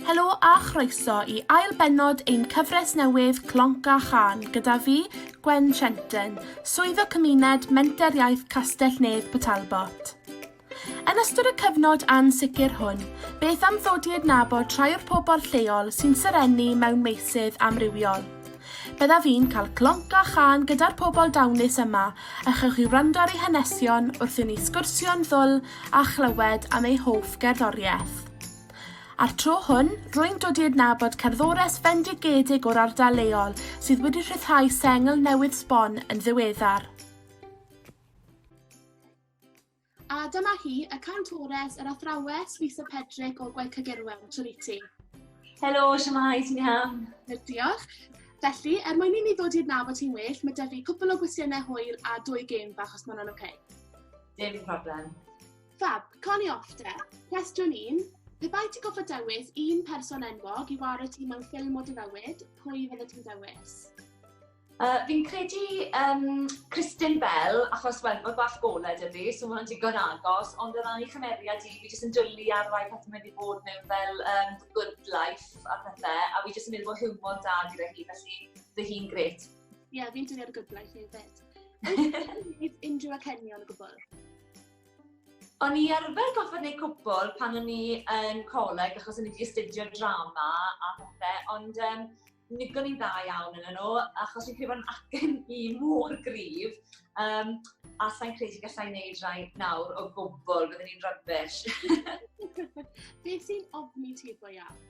Helo a chroeso i ail bennod ein cyfres newydd Clonc a Chan gyda fi, Gwen Trenton, Swyddog Cymuned Menter Iaith Castell Nedd Port Talbot. Yn ystod y cyfnod ansicr hwn, beth am ddod i adnabod rhai o'r pobl lleol sy'n serennu mewn meysydd amrywiol? Byddaf i'n cael clonc a chân gyda'r pobl dawnus yma a chewch chi wrando ar eu hanesion wrth i ni sgwrsio'n ddwl a chlywed am eu hoff gerddoriaeth. A'r tro hwn, rwy'n dod i adnabod cerddores fendigedig o'r ardal leol sydd wedi rhyddhau sengl newydd sbon yn ddiweddar. A dyma hi, y cantores, yr athrawes, Lisa Pedrick o Gwaith Cygirwen, Triti. Helo, siamai, ti'n iawn? Diolch. Felly, er mwyn i ni ddod i'r naf o ti'n well, mae dyfu cwpl o gwestiynau hwyl a dwy gêm bach os mae'n oce. Okay. Dim problem. Fab, coni off te. Cwestiwn un, pe bai ti goffa dewis un person enwog i wario ti mewn ffilm o dy fywyd, pwy fydde ti'n dewis? Yy, fi'n credu yym Cristin Bell, achos wel, mae bach golau 'da fi, so mae'n digon agos, ond o ran ei chymeriad hi, fi jyst yn dwli ar rai pethau mae 'di bod mewn fel um, The Good Life a pethau, a fi jyst yn meddwl bod hiwmor da gyda hi, felly fy hi'n gret. Ie, yeah, fi'n dwli ar y Good Life hefyd. Yw unrhyw acenion o gwbl? O'n i arfer goffa neu cwbl pan o'n i yn coleg, achos o'n i wedi astudio drama a pethau, ond um, Nigon i'n dda iawn yn nhw, achos fi'n credu bod yn acen i mor grif, um, a sa'n credu gallai wneud rhai nawr o gwbl, byddwn ni'n rybys. Beth sy'n ofni ti go iawn?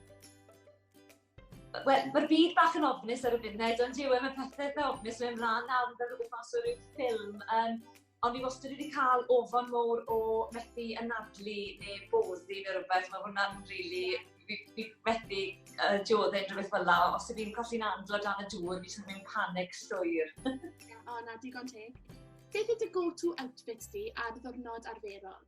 Wel, mae'r byd bach yn ofnus ar y funud, ond yw, e, mae pethau eitha ofnus mewn rhan nawr yn dod o gwmpas o ryw ffilm. Um, Ond fi wastad wedi cael ofon mowr o methu anadlu neu boddi neu rhywbeth. Mae hwnna'n rili... Fi, fi methu uh, dioddau unrhyw beth fel la. Os ydw i'n colli'n andlo dan y dŵr, fi sy'n mynd panic llwyr. o, na, digon teg. Beth ydy go-to outfit di ar ddwrnod arferol?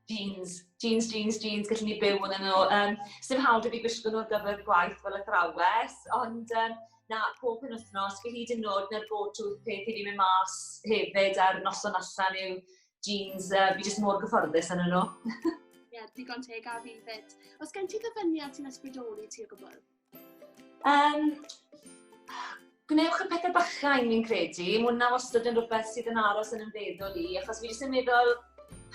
Jeans, jeans, jeans, jeans, gallwn ni byw ynddyn nhw. Yym, 'sdim hawl 'da fi gwisgo nhw ar gyfer gwaith fel athrawes, ond yym, na, pob penwythnos, fi hyd yn o'd 'na'r go-to peth i fi mynd mas hefyd ar noson allan yw jeans, yy, fi jyst mor gyfforddus ynddyn nhw. Ie, digon teg 'da fi 'fyd. Oes gen ti ddyfyniad sy'n ysbrydoli ti o gwbwl? Um, gwnewch y pethau bachau, mi'n credu. Mae hwnna wastad yn rhywbeth sydd yn aros yn ymfeddwl i, achos fi jyst yn meddwl,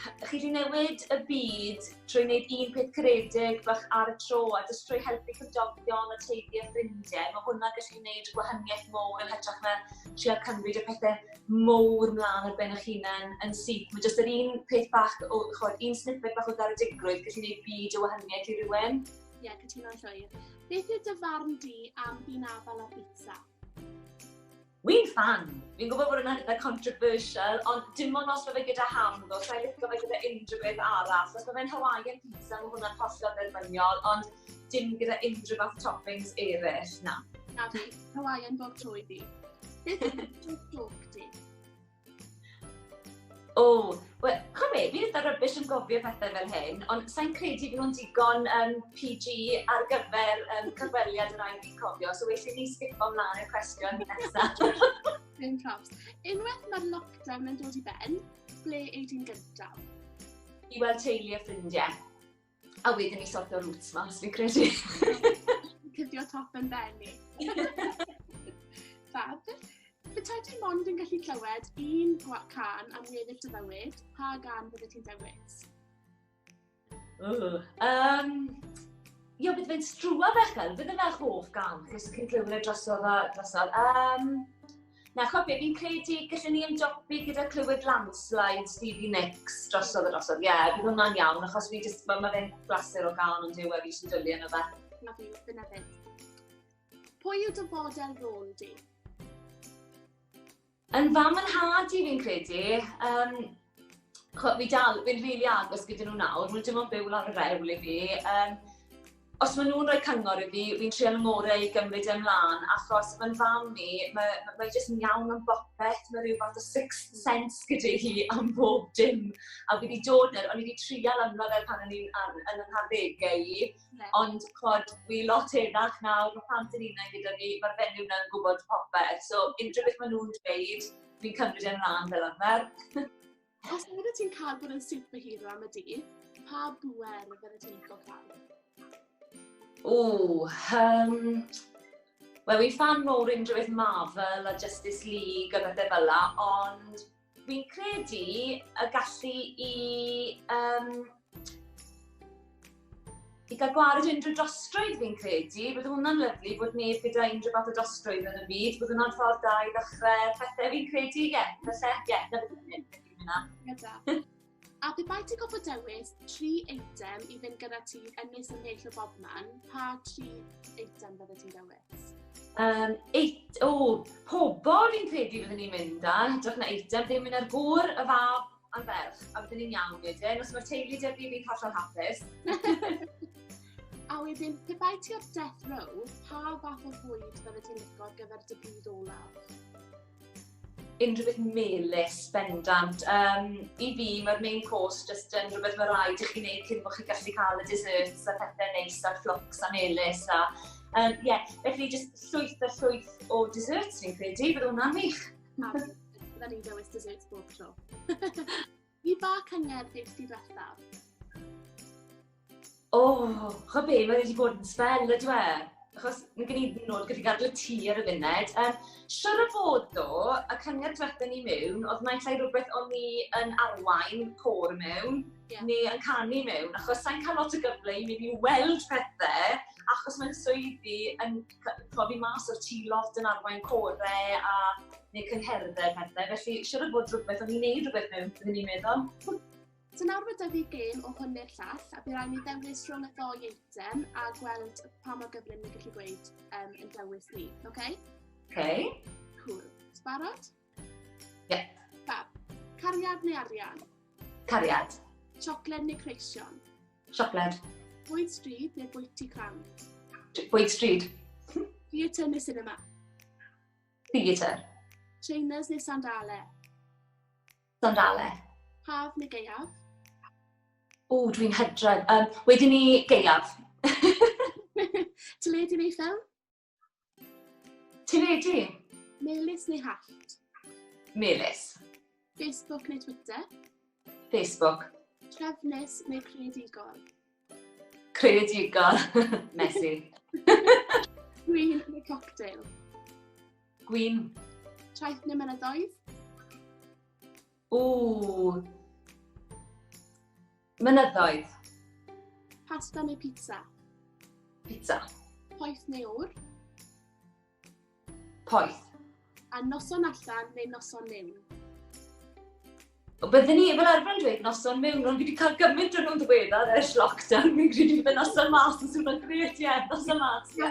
chi wedi newid y byd trwy wneud un peth creedig bach ar y tro, a jyst trwy helpu cymdogion a teulu a ffrindiau, mae hwnna gallu gwneud gwahaniaeth mowr yn hytrach na trio cymryd y pethau mowr mlaen ar ben eich hunain yn syth. Mae jyst yr un peth bach, o, chod, un snippet bach o garedigrwydd gallu gwneud byd o wahaniaeth i rywun. Ie, yeah, cytuno'n llwyr. Beth yw dy farn di am fi'n afal a pizza? Wi'n fan! Fi'n gwybod bod yna'n eitha controversial, ond dim ond os mae fe gyda ham ddo, so i'n licio fe gyda unrhyw beth arall. Os mae fe'n Hawaiian pizza, mae hwnna'n hollol dderbyniol, ond dim gyda unrhyw fath toppings eraill, na. Na fi, Hawaiian bob tro i fi. Beth yw'r joc di? O, wel, chwa be, fi eitha rybys yn gofio pethau fel hyn, ond sa'n credu bod nhw'n digon um, PG ar gyfer um, cyfweliad yr ail fi'n cofio, so well i ni sgipo mlaen y cwestiwn nesaf. Dim probs. Unwaith mae'r lockdown yn dod i ben, ble ei di'n gyntaf? I weld teulu a ffrindiau. A wedyn ni sortio roots mas, fi'n credu. Cydio top yn benni. Fab. Bytai ti mond yn gallu clywed un can am weddill dy fywyd, pa gan bydde ti'n dewis? Um, Ia, bydd fe'n strwa fechel, bydd yna hoff gan, chos chi'n clywed drosodd a drosodd. Um, Na, chwa be, fi'n credu gallwn ni ymdopi gyda clywed landslide Stevie Nicks drosodd y drosodd. Ie, yeah, bydd hwnna'n iawn, achos fi jyst, mae ma fe'n glasur o gael ond yw e fi sy'n dwlu yna fe. Na fi, dyna fe. Pwy yw dy fodel rôl di? Yn fam yn had i fi'n credu. Um, Chwa, fi dal, fi'n rili really agos gyda nhw nawr, maen nhw dim ond byw lawr y rewl i fi. Um, os maen nhw'n rhoi cyngor i fi, fi'n treol y ngorau i gymryd e'n mlaen, achos mae'n fam ni, mae, mae, mae jyst yn iawn am bopeth, mae rhyw fath o six sense gyda hi am bob dim. A fi wedi dod ar, o'n i wedi trial ymlaen fel pan o'n i'n yn, yn yn harddegau i, yeah. ond chod, fi lot eddach nawr, mae plant yn unau gyda fi, mae'r fenyw yna'n gwybod popeth, so unrhyw beth maen nhw'n dweud, Fi'n cymryd e'n rhan fel arfer. Os nad wyt ti'n cael bod yn superhero am y dydd, pa bwer fydde ti'n licio cael? O, um, Wel, fi'n fan mowr unrhyw beth Marvel a Justice League a bethau fel la, ond fi'n credu y gallu i um, I gael gwared unrhyw dostrwydd fi'n credu, bydd hwnna'n lyflu bod neb gyda unrhyw fath o dostrwydd yn y byd, bydd hwnna'n ffordd da i ddechrau pethau fi'n credu, ie, yeah, felly, ie, yeah, na beth yn hynna. Gyda. A pe bai ti gofod dewis tri eitem i fynd gyda ti yn nes yn neill o bob man, pa tri eitem bydde ti'n dewis? Um, eit, o, pobol fi'n credu byddwn ni'n mynd â, hytrach na eitem, ddim yn ar gŵr, y fab, A'r ferch, a wedyn ni'n iawn wedyn, os mae'r teulu dy'r fi fi'n hollol hapus. a wedyn, pe bai ti o'r death row, pa fath o fwyd fel y ti'n licio ar gyfer dy bryd olaf? Unrhyw beth melus, bendant. Um, I fi, mae'r main course just yn rhywbeth mae rhaid i chi wneud cyn bod chi gallu cael y desserts a pethau neis a'r fflwcs a melus a... Um, yeah. Felly, just llwyth a llwyth o desserts fi'n credu, bydd hwnna'n wych. Pam fydda ni'n dewis desserts bob tro? Fi ba cyngerdd nes ti ddiwethaf? O, oh, chwa be, mae wedi bod yn spel ydw e. Achos mae gen i nod gyda gadw ti ar y funud. Um, Siwr o fod do, y cyngerdd diwethaf ni mewn, oedd mae'n llai rhywbeth o'n ni yn arwain cor mewn, yeah. neu yn canu mewn, achos sa'n cael lot o gyfle i mynd i weld pethau, achos mae'n swyddi yn profi mas o'r tî lot yn arwain corau a neu cyngherddau pethau. Felly, siwr o bod rhywbeth o'n i'n neud rhywbeth mewn, byddwn ni'n meddwl. So nawr mae dyfu gêm o hwn neu'r llall, a bydd rhaid ni dewis rhwng y ddoi eitem a gweld pa mor gyflym ni'n gallu gweud um, yn dewis ni, oce? Okay? Oce. Okay. Cool. Sbarod? Yep. Fab. Cariad neu arian? Cariad. Siocled neu creision? Siocled. Bwyd stryd neu bwyty cran? Bwyd stryd. Theatre neu cinema? Theatre. Trainers neu sandale? Sandale. Haf neu geiaf? O, dwi'n hydredd. Um, wedyn ni geiaf. Teledu neu ffilm? Ti'n ready? Melys neu hallt? Melys. Facebook neu Twitter? Facebook. Trefnus neu creadigol? Creadigol. Messy. Gwyn neu cocktail? Gwyn. Traeth neu mynydoedd? Ww. Mynyddoedd. Pasta neu pizza? Pizza. Poeth neu ŵr? Poeth. A noson allan neu noson mewn? O, byddwn ni fel arfer yn dweud noson mewn, ond fi wedi cael gymaint o'n nhw'n ddiweddar ers lockdown, fi'n credu bod noson mas yn swnio'n gret, ie, noson mas. Ie.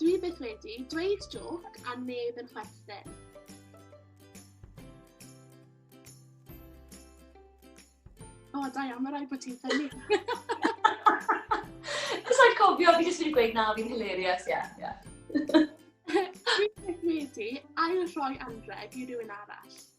Dwi byth wedi dweud jôc a neb yn chwerthin. O, da iawn, mae rhaid bod ti'n ffynnu. Cos rhaid cofio, fi jyst wedi gweud na, fi'n hilarious, ie, yeah, ie. Yeah. Dwi byth wedi ail rhoi anreg i rhywun arall.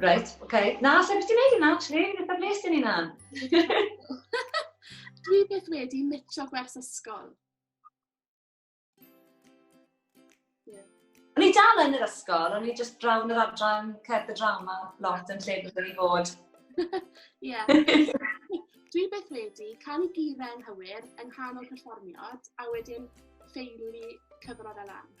Reit, ok. Na, lle beth ti'n neud yna, actually? Beth am nes ti'n yna? Dwi beth wedi mitio gwers ysgol. O'n i dal yn yr ysgol, o'n i just drawn yr adran cerdd y drama lot yn lle bod yn i fod. Ie. Dwi beth wedi cael ei gire yn hywir yng nghanol perfformiad a wedyn ffeili cyfrod a lan.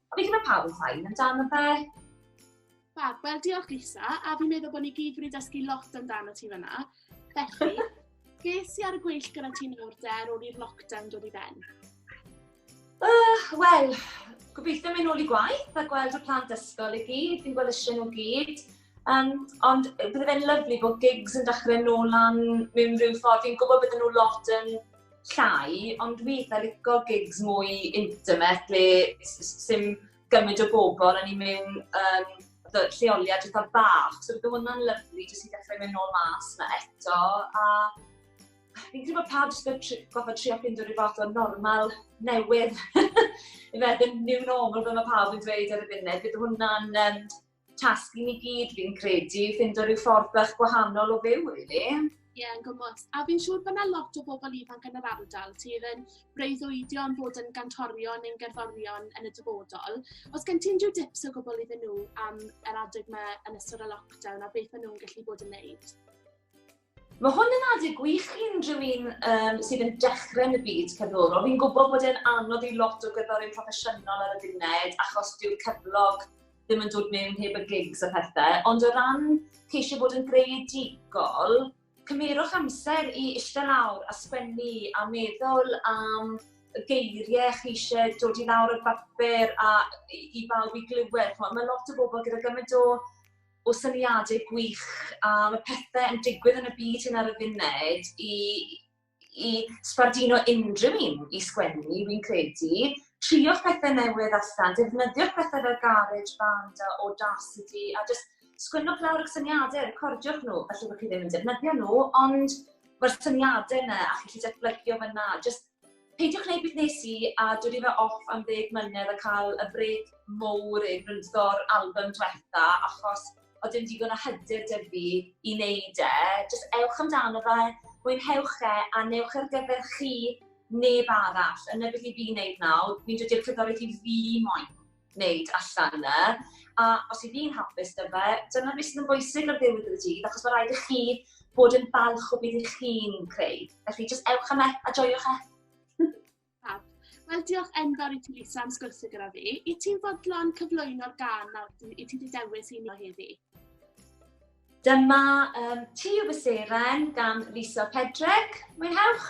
A fi'n gwybod pawb yn ffain amdano fe. Fab, wel diolch Lisa, a fi'n meddwl bod ni gyd wedi dysgu lot amdano ti fyna. Felly, ges i ar y gweill gyda ti'n nawr der ôl i'r lockdown dod i ben? Uh, Wel, gobeithio mynd nôl i gwaith a gweld y plant ysgol i gyd, fi'n gweld eisiau nhw gyd. Um, ond bydde fe'n lyflu bod gigs yn dechrau nôl lan mewn rhyw ffordd. Fi'n gwybod bydden nhw lot yn llai, ond dwi eitha licio gigs mwy intimate le sy'n gymryd o bobl a ni'n mynd um, lleoliad eitha bach. So bydde hwnna'n lyflu jyst i dechrau mynd nôl mas na eto. A fi'n credu bod pawb jyst wedi goffa trio ffind o'r fath o normal newydd. I fe, ddim new normal fel mae pawb yn dweud ar y funud. Bydde hwnna'n um, tasg i ni gyd fi'n credu, ffindo rhyw ffordd bach gwahanol o fyw, really. Ie, yeah, yn gwybod. A fi'n siŵr bod yna lot o bobl ifanc yn yr ardal sydd yn breuddwydio am fod yn gantorion neu'n gerddorion yn y dyfodol. Os gen ti'n rhyw dips o gwbl iddyn nhw am yr adeg yma yn ystod y lockdown a beth maen nhw'n gallu bod yn neud? Mae hwn yn adeg gwych i unrhyw un um, sydd yn dechrau yn y byd cerddorol. Fi'n gwybod bod e'n anodd i lot o gerddorion proffesiynol ar y gynnydd, achos dyw'r cyflog ddim yn dod mewn heb y gigs a pethau. Ond o ran ceisio bod yn greadigol, cymerwch amser i eistedd lawr a sgwennu a meddwl am y geiriau chi eisiau dod i lawr o'r bapur a i, i bawb i glywed. Mae lot o bobl gyda gymaint o o syniadau gwych a mae pethau yn digwydd yn y byd hyn ar y funud i, i sbardino unrhyw un i sgwennu, fi'n credu. Trio'ch pethau newydd allan, defnyddio'r pethau fel garage band a audacity, a just sgwennwch lawr y syniadau, recordiwch nhw, felly bod chi ddim yn defnyddio nhw, ond mae'r syniadau yna a chi'n gallu datblygio fyna, just Peidiwch gwneud beth wnes i, a dod i fe off am ddeg mlynedd a cael y brêc mowr i frwydro'r albym diwetha, achos oedd dim digon o hyder 'da fi i wneud e. Jyst ewch amdano fe, mwynhewch e, a wnewch e ar gyfer chi, neb arall. A 'na beth 'y fi'n wneud nawr, fi'n dod i'r cerddoriaeth i fi moyn. gwneud allan yna, a os i fi'n hapus da fe, dyna beth sydd yn bwysig ar ddiwedd y dydd, achos mae rhaid i chi bod yn balch o beth i chi'n creu. Felly, jyst ewch am e, a joiwch e. Wel, diolch enfawr i ti, Lisa, am sgwrsio gyda fi. I ti'n fodlon cyflwyno'r gan nawr i ti wedi dewis i ni o heddi? Dyma um, Ti o fy Seren gan Lisa Pedreg. Mwynhewch!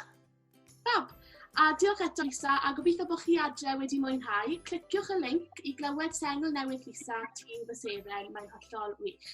Fab! A diolch eto Lisa, a gobeithio bod chi adre wedi mwynhau. Cliciwch y link i glywed sengl newydd Lisa, Ti fy Seren, mae'n hollol wych.